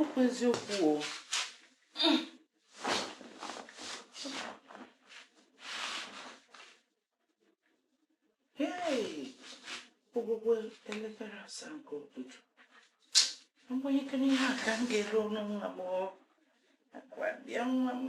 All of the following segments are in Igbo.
ọkwa eziokwu o ogwụgwọ elekere asaa nke ụtụtụ agbanyekere ihe a ka m ga-ere ọnụ nwa m akwa bịa nwa m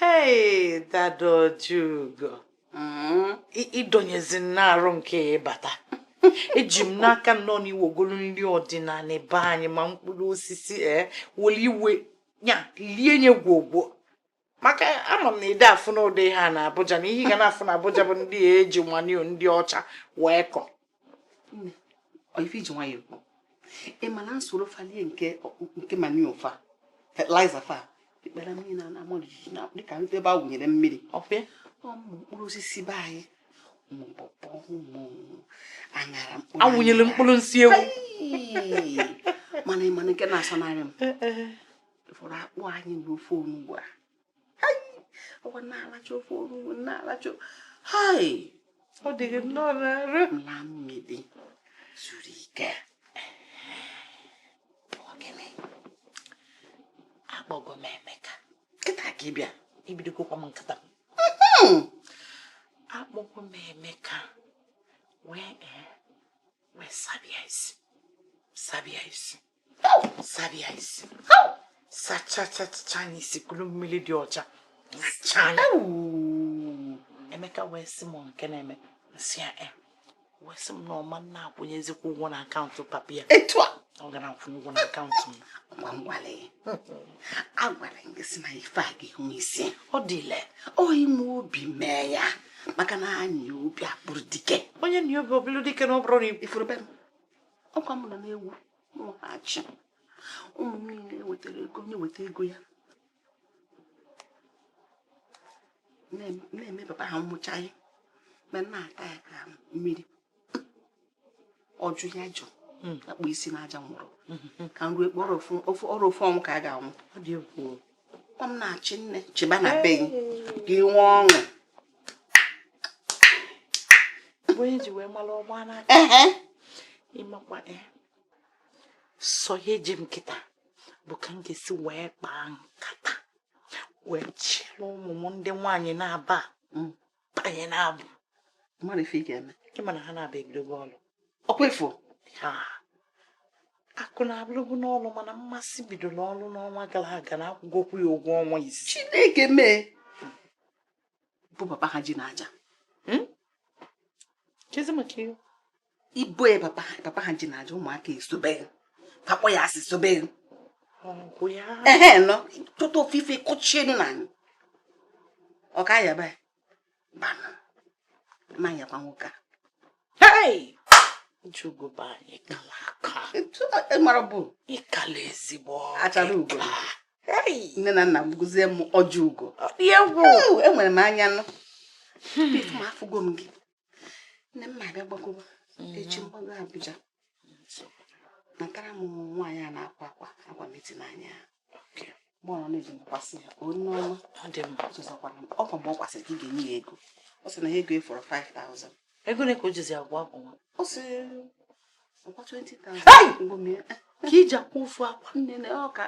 Hey, Dadojugo. Mm-hmm. Ị dọnyezi n'arụ nke ịbata. Eji m n'aka na ọ n'iwe golu nri ọdịnala be anyị ma mkpụrụ osisi e eh, were iwe ya lie nye gwogwo. Maka ama m na ide afụ n'ụdị ha na Abuja na ihe ị ga na-afụ na Abuja bụ ndị e ji manure ndị ọcha wee kọ. ife i ji nwayọ ekwu ị ma na m soro fa lie nke nke manure fa fertilizer fa ikpere m na-ama jijiji na-adị ka ndị ebe a wụnyere mmiri ọfe ụmụ mkpụrụ osisi be anyị ụmụ pọpọ ụmụ aṅara mkpụrụ a wụnyere mkpụrụ nsị ewu mana ị ma nke na-asọnarị m fọrọ akpụ anyị na ofe onugbu a ọwa na-alacha ofe onugbu na-alacha hai ọ dịghị nnọọ n'arụ m laa mmiri zuru ike gịnị akpọgo m emeka kịta ka ị bịa i bidogokwa m nkata hmm. akpọgo m emeka wee eh, wee saba ya isi saba ya isi saba ya isi sachachacha nya isi kuru mmiri dị ọcha nachaa nya emeka wee sị m nke na-eme m sị ya eh. wee sị m na ọ ma na-akwụnyezikwa ụgwọ na akaụntụ papa ya etu a ọ ga na-akwụ ụgwọ na akaụntụ m ma m gwara ya agwara m gị sị na ife a ga-enwe isi ọ dịle oyi m obi mee ya maka na anyị obi akpụrụ dike onye na obi ọ bụlụ dike na ọ bụrụ na ị fụrụ be m ọkwa m nọ na-ewu nwụghachi ụmụ m niile ewetara ego onye weta ego ya na-eme papa ha mmụchaghị ma na-ata ya ka mmiri ọjụ ya jụ hmm. akpọ isi n'aja nwụrụ hmm. ka m rue kpọrọ ọrụ ofu ọnwụ ka a ga-anwụ ọ m na-achị nne chịba na be gị ka ị nwee ọṅụ onye ji wee mara ọgba n'aka ị makwa e. sọ ihe eji m kịta bụ ka m ga-esi wee kpaa nkata wee chịrị ụmụ m ndị nwaanyị naabọ mm. banye na abuja ị ma na ha naabọ ebidogo ọlụ ọkwa ị fụ akụnna abụrụbu n'ọlụ mana mmasị bidoro ọlụ n'ọnwa gara aga na a kwụgokwu ya ụgwọ ọnwa isi chineke mee bụ papa ha ji n'aja hmm? ibo ya papa ha ji n'aja ụmụaka esobe pakpọ ya asị sobe ehe nọ tụtụ ofufe kụchie nna anyị ọ ka yaba ya banụ ma yakwa nwoke a njugoba anyị kala aka mara bụ ịkala ezigbo achara ugo nne na nna gbuzie m ọjị ugo enwere m anya nụ hmm. afụgo m gị nne m na-abịa gbagoba hmm. echi mgbago Abuja natara m nwaanyị a na-akwa akwa agwa meti n'anya gbọrọ na-eji mkwasị ya onye ọma ọ dị mma ọzọkwara m ọ kwa mgbe ọ kwasịrị ka ị ga-enye ya ego ọ sị na ya ego fọrọ 5000 ego ole ka o jizi akwa akwa nwa ọ sị ọkwa 20,000 ngwa mee ka i ji akwa ofu akwa nne na ọ ka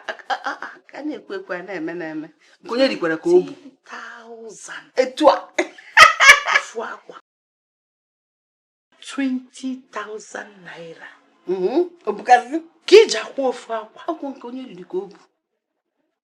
a na-ekwu ekwu a na-eme na-eme nke onye rikwara ka o bu 10,000 etu a ofu akwa 20,000 naira ọ bụkwazi ka i ji akwa ofu akwa ọ kwa nke onye riri ka o bu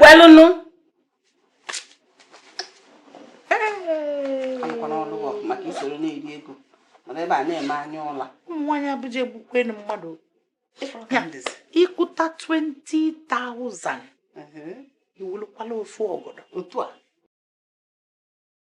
welụnụ maka i soro na-eri ego nọrọ ebe a na-eme anya ụla ụmụ nwaanyị Abuja egbukwenu mmadụ ị kụta 20,000 i welu kwala ofu ọgọdọ otu a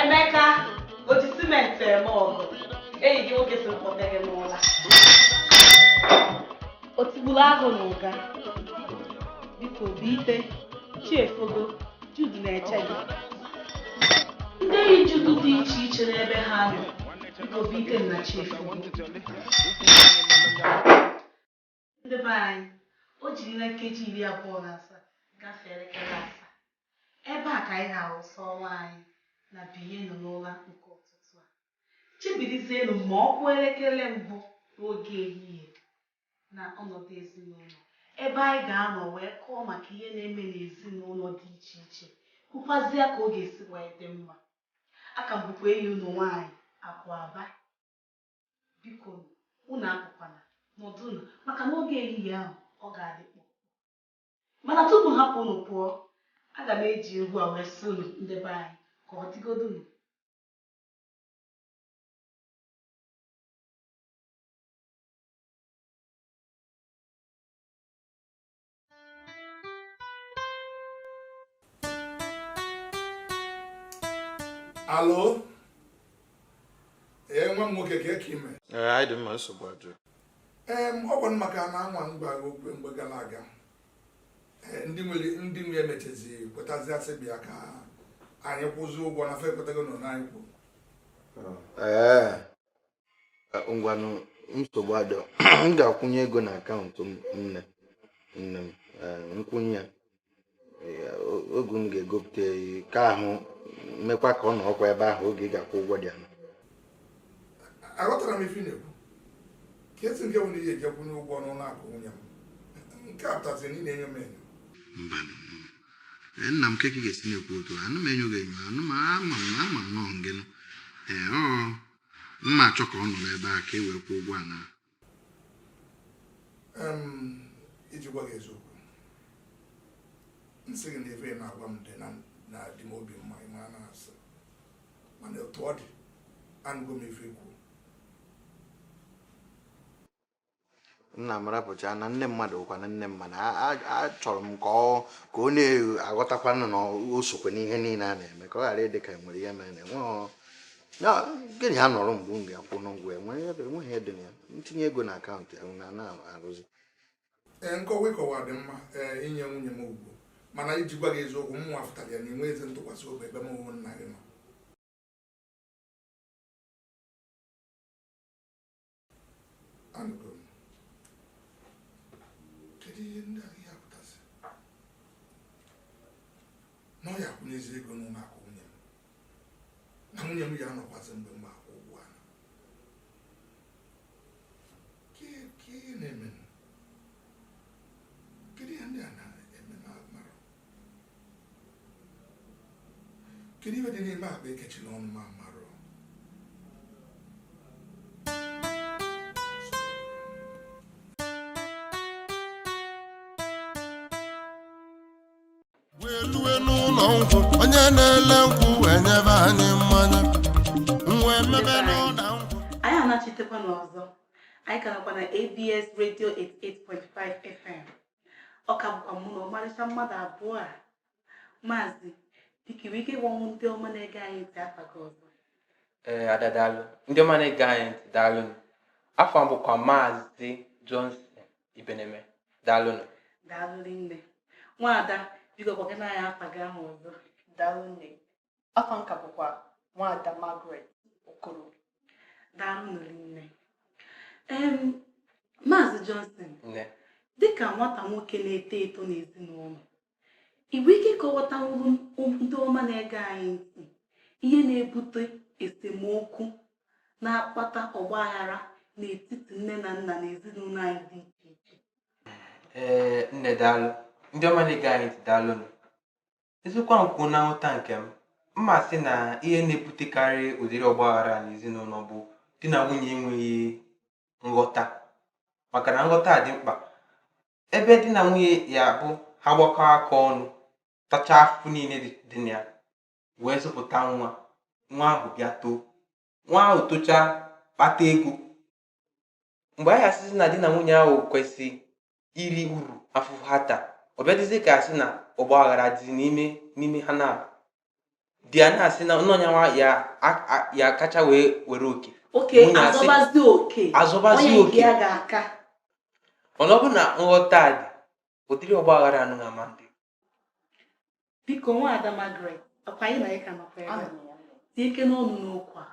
Emeka o ji simenti eme ọgọ enyi gị nwoke sị m kpọte gị n'ụla o tigburu agụ n'Ụga biko binite chi efogo Jude na-eche gị ndị enyi Jude dị iche iche n'ebe ha nọ biko binite na chi efogo Ndị be anyị, o jirila nkeji iri abụọ na asaa gafee elekere asaa. Ebe a ka anyị na-awụsa ọwa anyị na Binienụ n'Ụla nke ụtụtụ a. Chebirizienụ ma ọ kụọ elekere mbụ n'oge ehihie na ọnọdụ ezinụlọ, ebe anyị ga-anọ wee kọọ maka ihe na-eme n'ezinụlọ dị iche iche, kwukwazịa ka ọ ga-esi wee dị mma. Aka m bụkwa enyi unu nwaanyị, Akụ Aba. Bikonu, unu apụkwana, nọdụnụ, maka na oge ehihie ahụ ọ ga-adị kpụ ọkụ. Mana tupu m hapụ unu pụọ, aga m eji egwu a wee sị unu ndị be anyị ka ọ dịgodunu. Alo? Ee, nwa m nwoke kee ka ị mee. Ee, anyị dị mma nsogbu adịrọ. Ee, ọ bụ maka ana anwa m gwara gị okwu mgbe gara aga. Ee, ndị nwere ndị nwe emechazi kwetazia sị bịa ka anyị kwụzi ụgwọ na fa ekwetago n'ọnụ anyị kwuru. Ee, ngwanụ nsogbu adịrọ m ga-akwụnye ego na akaụntụ nne nne m eh, m kwụnye ya eh, oge m ga-egopụta ka ahụ mekwa ka ọ nọ ọkwa ebe ahụ oge ị ga-akwụ ụgwọ dianyị aghọtarọ m ife ị na-ekwu ka esi nke nwere ihe e ji akwụnye ụgwọ n'ụlọ akụ nwunye m nke a pụtazi na ị na-enye m enyo mba eh, nna m kee ka ị ga-esi na-ekwu otu a anarọ m enyo gị enyo anụ m ama m ama m na ọ ngị nụ ee m na-achọ ka ọ nọ n'ebe a ka e wee kwụọ ụgwọ ana iji gwa gị eziokwu m sị gị na ife ị na-agwa m dị na-adị m obi mma ị ma na ọ asị mana otu ọ dị anụgo m ife i kwu nna m rapụcha na nne mmadụ bụkwanụ nne mmadụ achọrọ m ka ọ ka ọ na-aghọtakwanụ na o sokwa n'ihe niile a na-eme ka ọ ghara ịdị ka e nwere ihe mere na gị na ya nọrọ mgbe m ga-akwụ n'ụgwọ enweghị ihe dị na ya m tinye ego na akaụntụ ya na na-arụzi ee nkọwa ị kọwa dị mma ee i nye nwunye m ugwu mana iji gwa gị eziokwu mụnwa fụtara ya na i nwerọzi ntụkwasị obi ebe mụnwa nna gị nọ anụgo m kedu ihe ndị a ya-apụtasị na ọ ya-akwụnyezi ego n'ụlọ akụ nwunye m na nwunye m ya-anọkwazi mgbe m akwụ ụgwọ ana kee ihe na-eme kedu ihe ndị a na-eme na mara kedu ihe dị n'ime akpa e kechiri ọnụ ma mara welue n'ụlọ nkwụ onye na-ele nkwụ wee nyebe anyị mmanya nwa emebe n'ụda nkwụ anyị anachitekwanụ ọzọ anyị ka nọkwa na abs radio 88.5 fm ọ ka bụkwa mụ na ọmarịcha mmadụ abụọ a maazị dịkiri ike gwanụ ndị ọma na-ege anyị ntị afa gị ọzọ ee ada daalụ ndị ọma na-ege anyị ntị daalụ afa m bụkwa maazị Johnson Ibeneme daalụ daalụ nne nwaada biko gwakene anyị afa gị ahụ ọzọ daalụ nne afa nke m bụkwa nwada Margaret Okoro daalụ nne Maazị Johnson dịka nwata nwoke na-eto eto n'ezinụlọ i nwere ike kọwatanwuru ndị ọma na-ege anyị ntị ihe na-ebute esemokwu na-akpata ọgba aghara n'etiti nne na nna n'ezinụlọ anyị dị iche iche ee nne daalụ ndị ọma na-ege anyị ntị daalụnụ Eziokwu ahụ kwuo na nghọta nke m, m ya-asị na ihe na-ebutekarị ụdịrị ọgbaghara n'ezinụlọ bụ di na nwunye enweghị nghọta maka na nghọta dị mkpa ebe di na nwunye ya bụ ha gbakọ aka ọnụ tachaa afụfụ niile dị na ya wee zụpụta nwa nwa ahụ bịa too nwa ahụ tochaa kpata ego mgbe a ya-asịzi na di na nwunye ahụ kwesịrị iri uru afụfụ ha taa ọ bịadịzi ka asị na ọgba aghara dị n'ime n'ime ha na-abụ di ya na-asị na ọ yanwa ya-akacha wee were oke nwunye azọbazi oke mana ọ bụ na nghọta dị ụdịrị ọgba aghara anụnwa ama adị biko nwada Margaret ọkwa anyị na gị ka nọkwa ebe a tinyekene ọnụ n'okwu a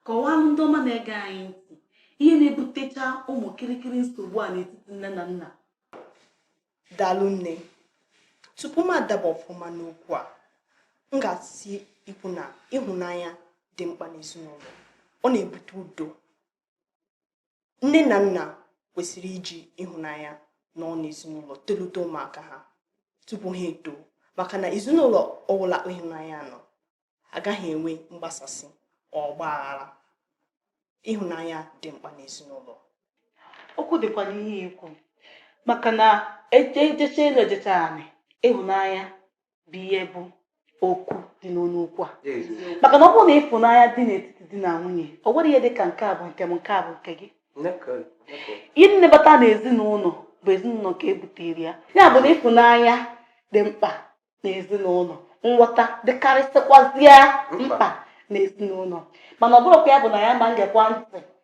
kọwaa ndị ọma na-ege anyị ntị ihe na-ebutecha ụmụ kirikiri nsogbu a n'etiti nne na nna daalụ nne tupu m adaba ọfụma n'okwu a m ga-asị ikwu na ịhụnanya dị mkpa n'ezinụlọ ọ na-ebute udo nne na nna kwesịrị iji ịhụnanya nọọ n'ezinụlọ tolite ụmụaka ha tupu ha eto maka na ezinụlọ ọbụla ịhụnanya nọ agaghị enwe mgbasasị ọgba aghara ịhụnanya dị mkpa n'ezinụlọ okwu dịkwa n'ihe i kwu maka na e jechaa elu e jechaa anị ịhụnanya bụ ihe bụ okwu dị n'ọnụ okwu a maka na ọ bụrụ na ịfụnanya dị n'etiti di na nwunye o nwerọ ihe dị ka nke a bụ nke m nke a bụ nke gị ihe na-abata na ezinụlọ bụ ezinụlọ ka e butere ya ya bụ na ịfụnanya dị mkpa na ezinụlọ nghọta dịkarịsịkwazịa mkpa na ezinụlọ mana ọ bụrụkwa ya bụ na ya ma ngekwa ntị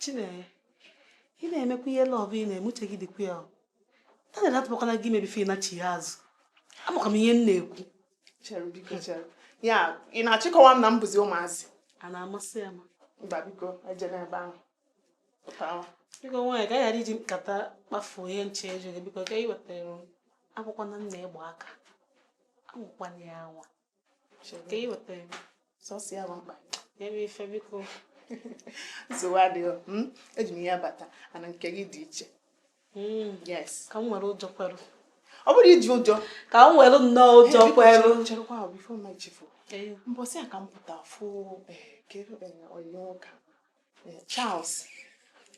Chinenye, ị na-emekwa ihe love ị na-eme uche gị dịkwa ya Daniel atụbakwana gị ime before ị nachigha azụ amakwa m ihe m na-ekwu chere biko chere ya ị na-achọ ịkọwa m na m bụzi ụmụazị a na-amasị ya ma mba biko ejela ebe ahụ pụtawa biko nwaanyị ka a ghara iji nkata kpafuo ihe nche ejughị biko ka ị wetara akwụkwọ na nna ịgba aka anwakwana ya anwa ka ị weta ya sọsọ ya bụ mkpa ya bụ ife biko nsogbu adịghị hmm? eji m ihe abata ana nke gị dị iche hmm. yes ka m were ụjọ kwere ọ bụrụ iji ụjọ ka m were nnọọ ụjọ kwelu cherekwa before m echefu mbọsị a ka m pụta fụ eh, eh, onye ụka eh, Charles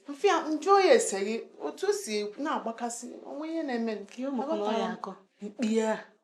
m fụ ya m jụọ ya ese gị otu o si na-agbakasị onwe ya na-eme mkpi ya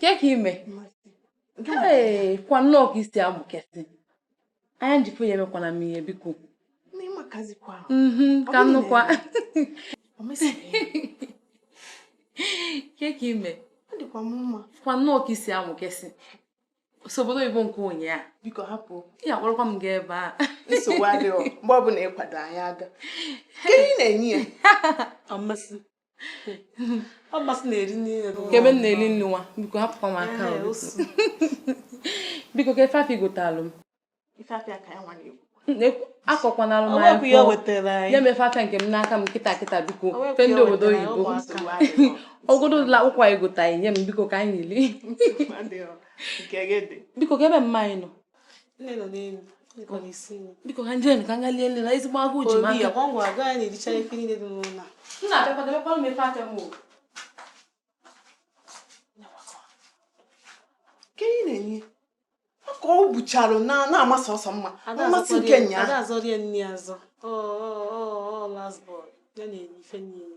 ke ka i mekwa nnọọ ka i si amụkesị anya m ji fụ ya emekwana m ihe biko mhm, ka m nụkwa ke ka i mekwa nnọọ ka i si amụkesị obodo oyibo nke ụnyaa biko hapụ ya akpọrọkwa m gaa ebe a nsogbu adịghị mgbe ọbụla ị kwado anyị aga ka ị na-enye ya Mmasị na-eri nri kebe m na-eri nri nwa biko hapụkwa m aka biko ke ife afịa ị gotalụ m akọkwanalụ m nye m ife afịa nke m n'aka m kịta kịta biko ife ndị obodo oyibo ogodo ụlọ akwụkwọ anyị gotaghị nye m biko ka anyị lie biko ke ebe mma anyị nọ nne nọ n'elu biko na-esi nri biko ka m je ka m ga lie nri na ezigbo agụụ ji m aka ngwa ngwa gaa na-elicha ife niile dị n'ụlọ m na-abịakwa debekwa m ife afịa m o Chinenye ka ọ buchara na-ama sọsọ mma mmasị nke nya ada azọrọ ya nri azọ ọ ọ ọ last born a na-enye ife niile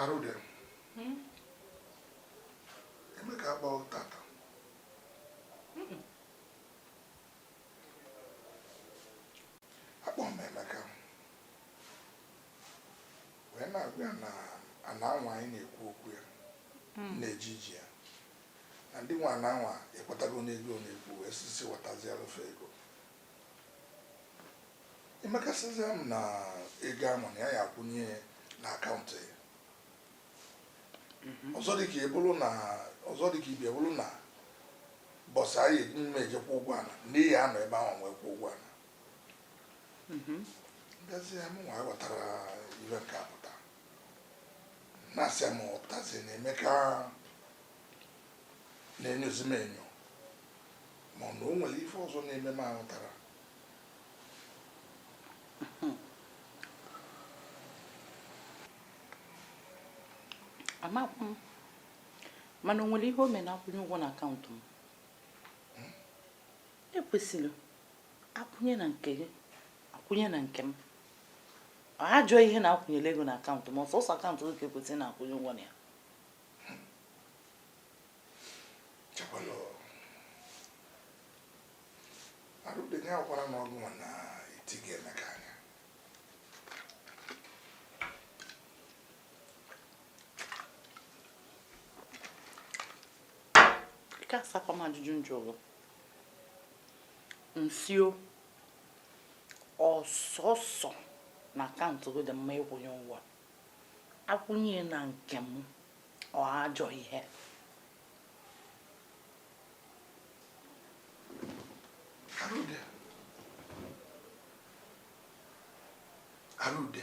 Arụde hmm? Emeka apụta taa akpọọ m Emeka wee na-agwa ya na ana anwa anyị na-ekwu okwu ya hmm. na-eji iji ya na ndị nwe ana anwa ekwetago n'ego a na-ekwu wee sị sị wetaziara fa ego Emeka sịzi m na ego ahụ na ya ya akwụnye na akaụntụ ya mhm. ọzọ dịka ibe bụrụ na ọzọ dịka ibe ya bụrụ na bọsụ anyị mme eje kwụọ ụgwọ ana na a ya anọ ebe ahụ wee kwụọ ụgwọ ana mhm. ndezi ya mụnwa ghọtara ihe nke a pụta na-asị m ọ pụtazi na Emeka na-enyozi m enyo ma ọ na o nwere ife ọzọ na-eme m ahụtara amakwa m mana o nwere ihe o mere na-akwụnye ụgwọ na akaụntụ m hmm? ekwesịrị akwụnye na nke gị akwụnye na nke m ajọ ihe na akwụnyere ego na akaụntụ m ọ sọsọ akaụntụ gị ka ekwesịrị na-akwụnye ụgwọ na ya chekwana Arude nye akwara na ọgụ na iti Emeka anya ka asakwa m ajụjụ m jụrụ m sị o ọ sọsọ na akaụntụ gị dị mma ịkwụnye ụgwọ akwụnye na nke m ọ ajọ ihe Arude